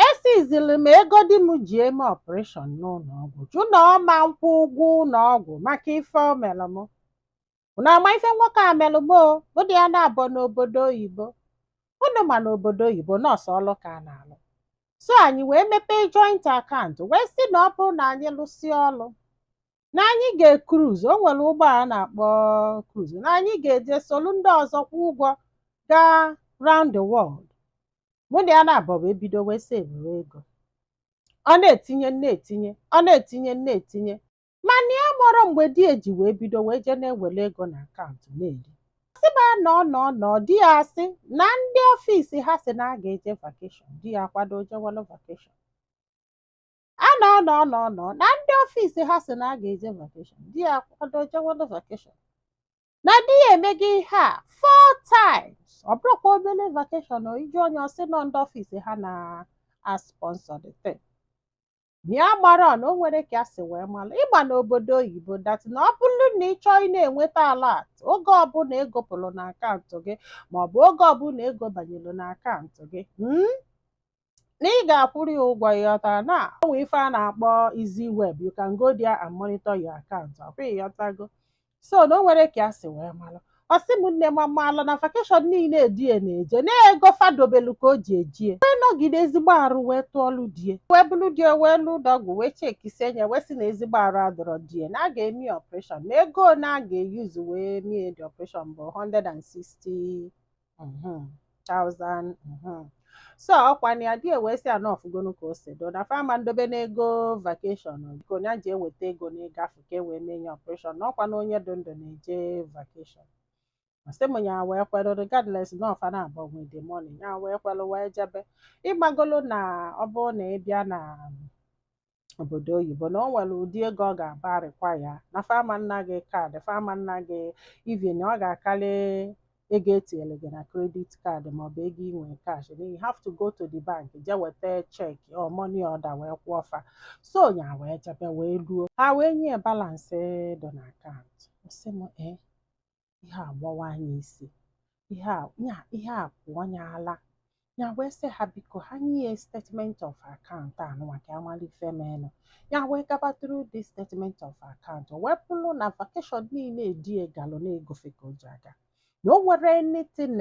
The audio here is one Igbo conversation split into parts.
esizili m ego di m ji eme ọpereshọn n'ụlọọgwụ jụ na ọ ma nkwụ ụgwọ ụlọọgwụ maka ife o mere m. Unu ama ife nwoke a mere m o, mụ na ya naabọ n'obodo oyibo. Unu ma na obodo oyibo na ọ sọ ọlụ ka a na-alụ. So anyị wee mepee joint account wee sị na ọ bụrụ na anyị lụsịa ọlụ, na anyị ga-ekruz o nwere ụgbọ a na-akpọ kruz na anyị ga-eje solu ndị ọzọ kwụ ụgwọ gaa round the world mụ na ya naabọ wee bido wee sevuwe ego ọ na-etinye m na-etinye ọ na-etinye m na-etinye mana ya amarọ mgbe di e ji wee bido wee jee na-ewere ego na akaụntụ na-eri sị m a nọ nọ nọ di ya asị na ndị ọfisi ha sị na a ga-eje vakeshọn di ya akwado jewelụ vakeshọn a nọ nọ nọ nọ na ndị ọfịs ha sị na a ga-eje vakeshọn di ya akwado jewelụ vakeshọn na di ya emego ihe a four times ọ bụrọkwa obele vakeshọn o ị jụọ nye ọ sị na ọ ndị ọfịs ha na-asponsọ the thing ya amarọ na o nwerọ ka a si wee mara ị ma n'obodo oyibo dat na ọ bụrụ na ị chọọ ị na-enweta alat oge ọbụla ego pụrụ na akaụntụ gị maọbụ oge ọbụla ego banyere na akaụntụ gị mm, na ị ga-akwụrụ ya ụgwọ ị ghọtara na o nwee ife a na-akpọ easy web you can go there and monitor your account ọkwa ị ghọtago so na o nwerọ ka ya si wee malụ ọ sị m nne m amalụ na vakeshọn niile di e na-eje na ego fa dobelu ka o ji eje wee nọgide ezigbo arụ wee tụọlụ di e wee bulu di e wee luo ụlọọgwụ wee chekisie nye wee sị na ezigbo arụ adọrọ di e na a ga-eme ọpreshọn na ego na a ga-eyuzu wee mee the ọpreshọn bụ 160 mhm, thousand mhm. so ọkwa na ya di e wee sị a na ọ fụgonu ka o si dụ na fa ama ndobe n'ego vakeshọn biko ya je weta ego n'ego afụ ka e wee mee nye ọpreshọn na ọkwa na onye dị ndụ na-eje vakeshọn sị m ya wee kwere regardless na ọ fa naabọ nwe the money ya wee kwere wee jebe ị magolu na ọ bụrụ na ị bịa na obodo oyibo na o nwere ụdị ego ọ ga-abụ a rịkwaya na fa ama nna gị kaadị fa ama nna gị even ọ ga-akarị ego e tinyere gị na kredit kaadị maọbụ ego i nwe kash na you have to go to the bank je weta cheki or money order wee kwụọ fa so nya wee jebe wee luo ha wee nye e balansị dị na akaụntụ ọ sị m ee ihe a gbawaa nye isi ihe a pụọ nye ala ya wee sị ha biko ha nye ya statement of account anụnwa ka a mara ife meenụ ya wee gaba through this statement of account o wee bụrụ na vacation niile di e galụ na ego fa ka o ji aga na o nwerọ anything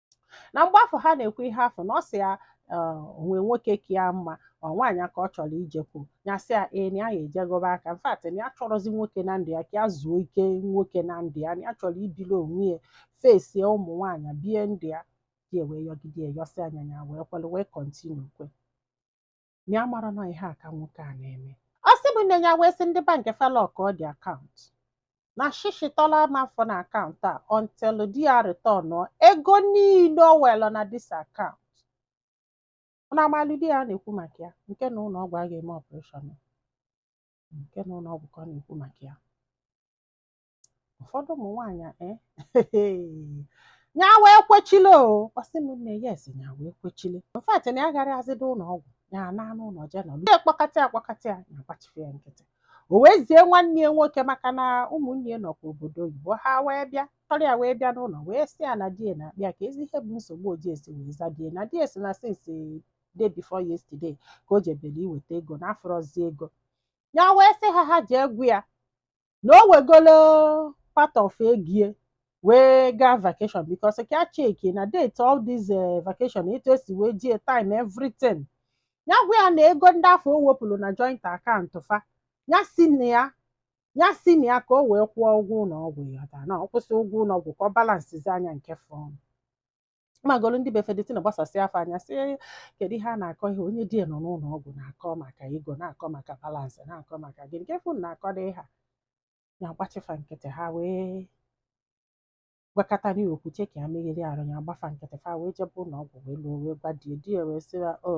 na mgbe afụ ha na-ekwu ihe afụ na ọ sị ya o nwe nwoke ka ya mma ọ nwaanyị ka ọ chọrọ ijekwu ya sị ya ee na ya ga-ejegoba aka in fact na ya achọrọzi nwoke na ndụ ya ka ya zuo ike nwoke na ndụ ya na ya chọrọ ibili onwe ya fesie ụmụ nwaanyị bie ndụ ya di ya wee yọgide yọsịa ya ya wee kwere wee kọntinu kwe na ya amarọ na ọ ihe a ka nwoke a na-eme ọ sị m na ya wee sị ndị bank fa lọkụọ the akaụntụ na shishi tọlọ ama afụ na akaụntụ a until di ya retọnụọ ego niile o were na dis akaụntụ na amalụ di ya na-ekwu maka ya nke na ụlọ ọgwụ a ga-eme ọpụreshọn nke na ụlọ ọgwụ ka ọ na-ekwu maka ya ụfọdụ ụmụ nwaanyị eh, ya wee kwechile o ọ sị m na yes ya wee kwechile in fact na ya agarọzịdo ụlọ ọgwụ ya anọ n'ụlọ je nọ ndị dọkịta akpọkata ya ya agbachi fa nkịtị o wee zie nwanne ya nwoke maka na ụmụnne ya nọkwa obodo oyibo ha wee bịa chọrọ ya wee bịa n'ụlọ wee sị ya na di ya na-akpọ ya kezi ihe bụ nsogbu o ji esi wee za di ya na di ya sị na since day before yesterday ka o jebere iweta ego na afụrọzi ego ya wee sị ha ha jee gwa ya na o wegolo part of ego ya wee gaa vacation because ka ya chekie na date all this eh, vacation etu esi wee jie time everything ya gwa ya na ego ndị afụ o wepụrụ na joint akaụntụ fa ya si na ya ya si na ya ka o wee kwụọ ụgwọ ụlọ ọgwụ ya ọda na ọ kwụsịa ụgwọ ụlọ ọgwụ ka ọ balansizie ya nke fọrọ magolu ndị be fa the thing agbasasịa fa anya sị kedu ihe a na-akọ ihe onye di ya nọ n'ụlọ ọgwụ na-akọ maka ego na-akọ maka balansị na-akọ maka gịnị kee ife unu na-akọ dị ha ya gbachi fa nkịtị ha wee gwakata ya okwu chee ka ya megharịa arụ ya gba fa nkịtị fa wee jebe ụlọ ọgwụ wee luo wee gwa di ya di ya wee sị ya o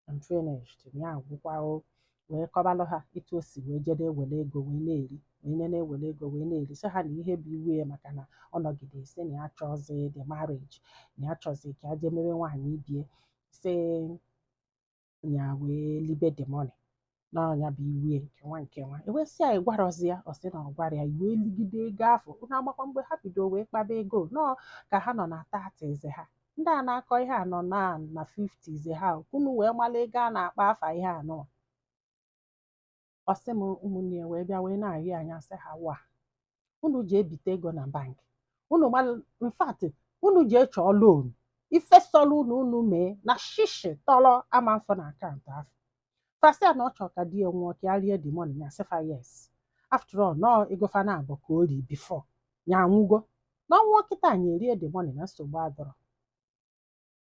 I'm finished ya agwụkwa o wee kọbalụ ha etu o si wee jede ewere ego wee na-eri wee nye na-ewere ego wee na-eri sị ha na ihe bụ iwe ya maka na ọ nọgide sị na ya achọzi the marriage na ya chọzi ka ya jee marry nwaanyị ibe ya sị ya wee libe the money na ọ ya bụ iwe ya nke nwa nke nwa e wee sị ya ị gwarọzi ya ọ sị na ọ gwarọ ya ị wee ligide ego afụ unu amakwa mgbe ha bido wee kpaba ego na ọ ka ha nọ na thirties ha ndị a na-akọ ihe a nọ na na fifties ha ka unu wee mala ego a na-akpa afa ihe anọ ọ sị m ụmụnne ya wee bịa wee na-arịọ ya sị ha wa unu jee bite ego na bank unu in fact unu jee chọọ loan ife sọlụ unu unu mee na shishi tọrọ ama afụ na akaụntụ afụ fa sị ya na ọ chọrọ ka di ya nwụọ ka ya rie the money ya sị fa yes after all na ọ ego fa naabọ ka o ri before ya anwụgo na ọ nwụọ kịta ya erie the money na nsogbu adịrọ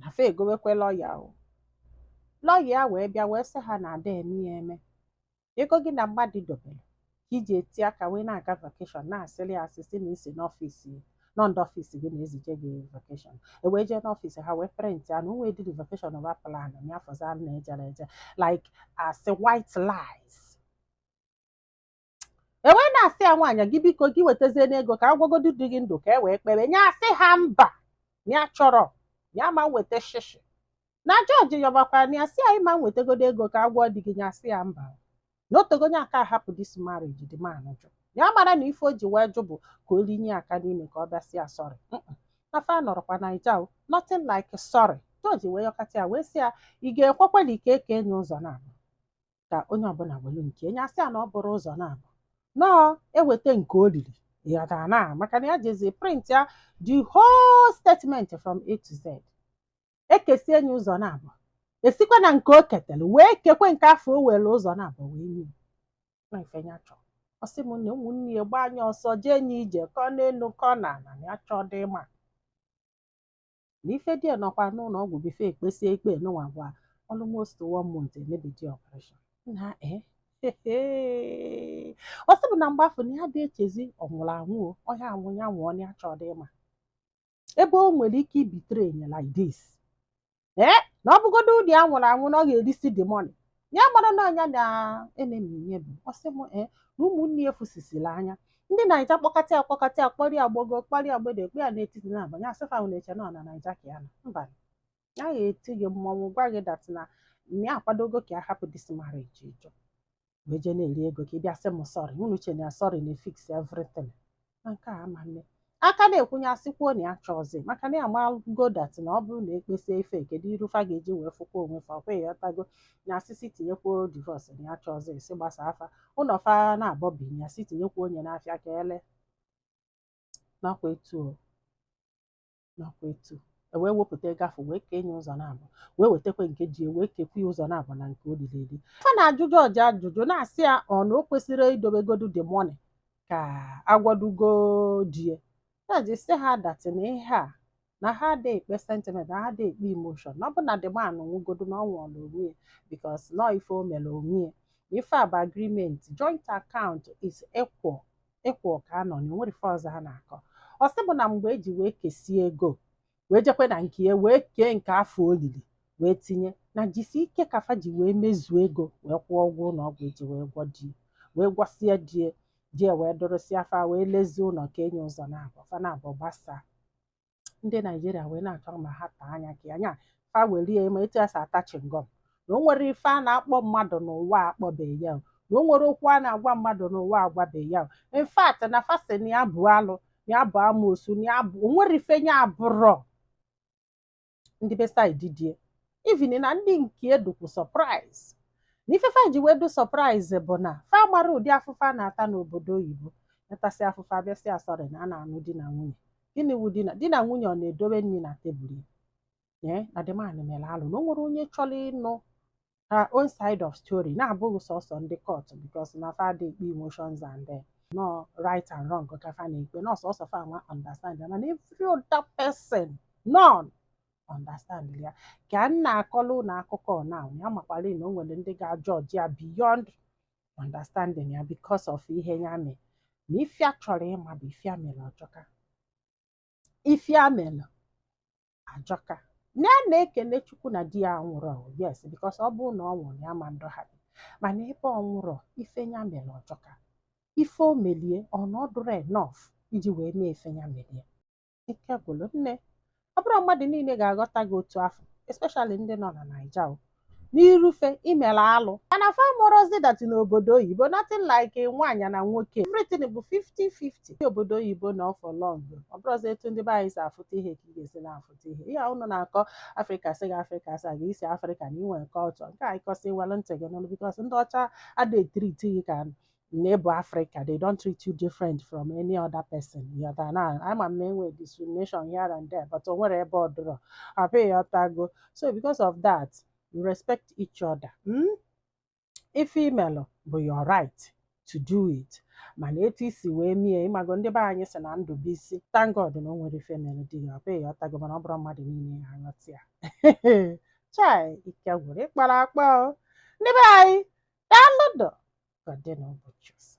na fa egowekwe lọya o lọya ya wee bịa wee sị ha na ada eme ya eme ego gị na mmadụ dobere ka iji eti aka wee na-aga vakeshọn na-asịrị ya asị sị na isi n'ọfịs na ọ ndị ọfịs gị na-ezije gị vakeshọn ewee jee n'ọfịs ha wee prịntị ya na onwedịrị vakeshọn ọba plan ya afọzi a na-ejere eje like asị white lies e wee na-asị ya nwaanyị gị biko gị wetazie n'ego ka agwọgodu di gị ndụ ka e wee kpebe nya asị ha mba ya achọrọ ya ama eweta shishi na jọji yọbakwara na ya sị nwaanyị a wetagodo ego ka agwọ di gị ya sị ya mba na otego nya aka ahapụ this marriage the man jụ ya mara na ife o ji wee jụ bụ ka o linye aka n'ime ka ọ bịa sị ya sọrị na fa anọrọkwa naija o nothing like sọrị jọji wee yọkata ya wee sị ya ị ga-ekwekwa na ike eke nye ụzọ na ka onye ọbụla welu nke nya asị ya na ọ bụrọ ụzọ na-abọ na ọ eweta nke o riri ịghọtara na maka na ya jezi print ya the whole statement from A to Z ekesie nye ụzọ na-abọ esikwa na nke o ketara wee kekwe nke afụ o were ụzọ na-abọ wee nye na ife nya chọ ọ sị m na ụmụnne ya gbaa nya ọsọ jee nye ije kọ n'elu kọ na ala ya achọọ dị ịma na ife di ya nọkwa n'ụlọ ọgwụ before ekpesie ikpe nụnwa gwa almost one month emebedị ọpareshọn na eh, eh, eh. ọ sị bụ na mgbe afụ na ya adị echezi ọ nwụrụ anwụ o, ọ ga-anwụ ya nwụọ na ya achọọ dị ịma ebe o nwere ike ịbetray nya like this ee na ọ bụgodo ụdị ya nwụrụ anwụ na ọ ga-erisi the money ya mara na ọ nya na enemy nye bụ ọ sị m ee na ụmụnne ya afụsisila anya ndị naija kpọkata ya kpọkata ya kpọrọ ya gbogo kpọrọ ya mgbede kpọ ya n'etiti abanị nya asị fa unu na-eche na ọ na naija ka ya nọ mba ya ga-eti gị mmọnwụ gwa gị that na ya akwadogo ka ya hapụ this marriage ị jụ wee jee na-eri ego ka ị bịa sị m sọrị unu che na sọrị na-efix everything na nke a ama nne aka na-ekwu nya asịkwuo na ya achọọzi maka na ya malụgo that na ọ bụrụ na ekpesie ife kedu iru fa ga-eji wee fụkwa onwe fa ọkwa ịghọtago nya asị sị tinyekwuo divorce na ya achọọzi sị gbasaa fa ụlọ fa na-abọ bi nya sị tinyekwuo nye n'afịa ka ele nakwa etu o ewee wepụta ego afụ wee kee nye ụzọ na-abọ wee wetakwa nke di wee kekwa ya ụzọ na-abọ na nke o lili eli fa na-ajụ jọji ajụjụ na-asị ya ọ na o kwesịrị idobegodu the money ka agwọdugo di ya jọji sị ha that na ihe a na ha adịghị ekpe sentiment na ha adịghị ekpe emotion na ọ bụ na the man nwụgodu na ọ nwụọla onwe ya because na ọ ife o mere onwe ya ife a bụ agreement joint account is equal equal ka anọ na onwerọ ife ọzọ ha na-akọ ọ sị bụ na mgbe eji wee kesie ego wee jekwe na nke ya wee kee nke afụ o lili wee tinye na jisi ike ka fa ji wee mezuo ego wee kwụọ ụgwọ ụlọ ọgwụ eji wee gwọ die wee gwọsie die die wee dorosia fa wee lezie ụlọ kee nye ụzọ na-abọ fa na-abọ gbasaa ndị naijiria wee na-achọ ma ha taa anya ka anya fa werie ma etu e si ata chingom na o nwerọ ife a na-akpọ mmadụ n'ụwa akpọbeghị ya o, na o nwerọ okwu a na-agwa mmadụ n'ụwa agwabeghị ya o. in fact na fa sị na ya bụ alụ na ya bụ amoosu na ya bụ o nwerọ ife ya abụrọ ndị be side di e even na ndị nke e dụkwu surprise na ife fa ji wee dụ surprise bụ na fa mara ụdị afụfụ a na-ata n'obodo oyibo na a tasịa afụfụ a bịasị asọrị na a na-anụ di na nwunye gịnị wụ di na di na nwunye ọ na-edowe nri na tebụl ya ee na the man mere alụ na o nwerọ onye chọrọ ịnụ her own side of story na-abụghị sọsọ ndị court because na fa adị ekpe emotions and eh, na ọ right and wrong ka fa na-ekpe na ọ sọsọ fa nwa understand ya mana every other person none understand ya ka m na-akọlụ unu akụkọ na ya makwara na o nwere ndị ga-ajọji ya beyond understanding ya because of ihe ya mere na ife ya chọrọ ịma bụ ife ya mere ọ jọka ife ya mere ajọka na ya na-ekele chukwu na di ya anwụrọ yes because ọ bụrụ na ọ nwụrụ ya ma ndụ ha dị mana ebe ọ nwụrọ ife ya mere ọ jọka ife o meli e na ọ dụrọ enough iji wee mee ife ya meli e ike gwụrụ nne ọ bụrọ mmadụ niile ga-aghọta gị otu afụ especially ndị nọ na naija o n'iru fa i mere alụ mana fa amarọzi that n'obodo oyibo nothing like nwaanyị na nwoke everything bụ 50-50 ndị obodo oyibo nọọ for long ọ bụrọzi etu ndị be anyị si afụta ihe ka ị ga-esi na-afụta ihe ihe a unu na-akọ afrịka sị gị afrịka sị gị i si afrịka na i nwe culture nke a ị kọsị welụ ntị gị nụlụ because ndị ọcha ada etreat gị ka na ị bụ afrịka they don't treat you different from any other person ị ghọta na ama m na e nwe discrimination here and there but o nwerọ ebe ọ dụrọ abi ị ghọtago so because of that you respect each other mm? ife i melụ bụ your right to do it mana etu i si wee mie ị mago ndị be anyị sị na ndụ bụ isi thank God na o nwerọ ife mere di ya abi ị ghọtago mana ọ bụrọ mmadụ niile ya-aghọta ya chai ike gwụrụ ịkpara akpa o ndị be anyị daalụnụ o ka ọ dị n'ụbọchị ọzọ